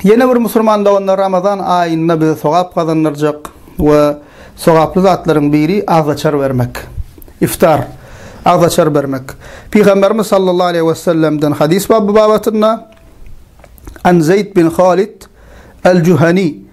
Ýene bir musulman doganda Ramazan aýynda bize sogap gazandyrjak we sogaply zatlaryň biri agzaçar bermek. Iftar agzaçar bermek. Pygamberimiz sallallahu aleyhi ve sellemden hadis baby babatynda An Zeyd bin Halid El-Juhani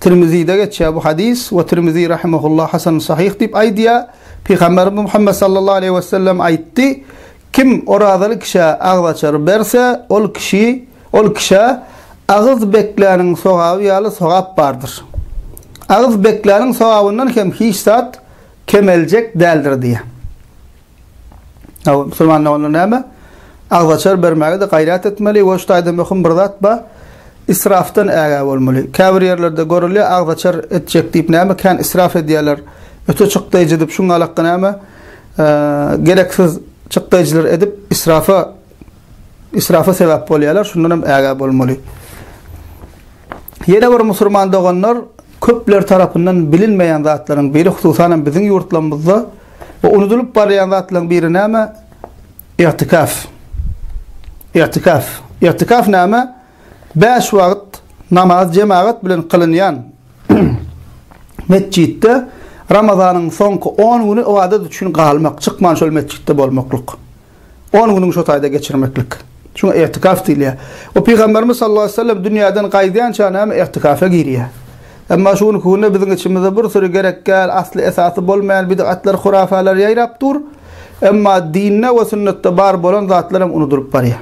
Tirmizide geçýär bu hadys we Tirmizi rahimehullah hasan sahyh diýip aýdýar. Pygamberimiz Muhammet sallallahu aleýhi wesellem aýtdy, Kim orazaly kişä agzaçar berse, ol kişi, ol kişä agyz bekläniň sogaby ýaly sogap bardyr. Agyz bekläniň sogabyndan hem hiç zat kemeljek däldir diýýär. Aw, musulmanda onda näme? Agzaçar bermäge-de gaýrat etmeli we şu taýda möhüm bir zat bar, israfdan ägä bolmaly. Käbir ýerlerde görülýär, agzaçar etjek diýip näme kän israf edýärler. Öte çykdaýjy edip, şuň alakka näme, gereksiz çykdaýjylar edip, israfa israfa sebäp bolýarlar, şundan hem ägä bolmaly. Ýene bir musulman doganlar köpler tarapyndan bilinmeýän zatlaryň biri, hususan hem biziň ýurtlarymyzda we unudylyp barýan zatlaryň biri näme? Igtikaf. Igtikaf. Igtikaf näme? Bäş wagt namaz jemagat bilen kylynýan metjitde Ramazanyň soňky 10 güni ybadat üçin galmak, çykman şol metjitde bolmaklyk. On günüňi şo taýda geçirmeklik. Şuňa igtikaf diýilýär. We Pygamberimiz sallallahu aleyhi ve sellem dünýäden gaýdýança näme igtikafa girýär. Emma şu günki günde biziň içimizde bir süri gerekgäl, asly esasy bolmaýan bid'atlar, hurafalar ýaýrap dur. Emma dinde we sünnetde bar bolan zatlar hem unudylyp barýar.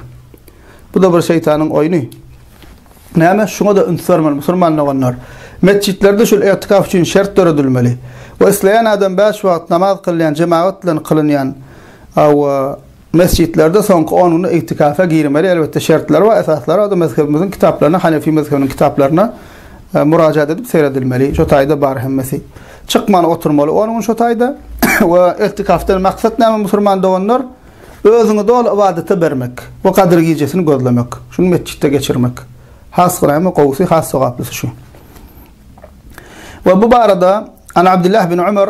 Bu-da bir şeýtanyň oýny. Näme? Şuňa-da üns bermeli musulman doganlar. Metjitlerde şul igtikaf üçin şert döredilmeli. We isleýän adam bäş wagt namaz kylýan, jemagat bilen kylynýan, Hawa, mesjitlerde soňky on gün igtikafa girmeli, elbetde şertleri bar, esaslary bar, mezhebimiziň kitaplaryna, hanefi mezhebiniň kitaplaryna murajaat edip seredilmeli, şo taýda bar hemmesi. Çykman oturmaly on gün şo taýda we igtikafdan maksat näme musurman doganlar, özüňi doly ybadata bermek we gadyr gijesini gözlemek, şuny metjitde geçirmek. Has gyramy, gowusy, has sogaplysy şu. We bu barada An Abdullah bin Umar,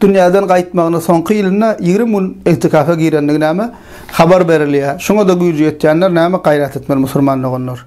dünýäden gaýtmagyna soňky ýylynda ýigrimi gün igtikafa girendigi näme habar berilýär. Şuňa-da güýji ýetýänler näme gaýrat etmeli musurman doganlar.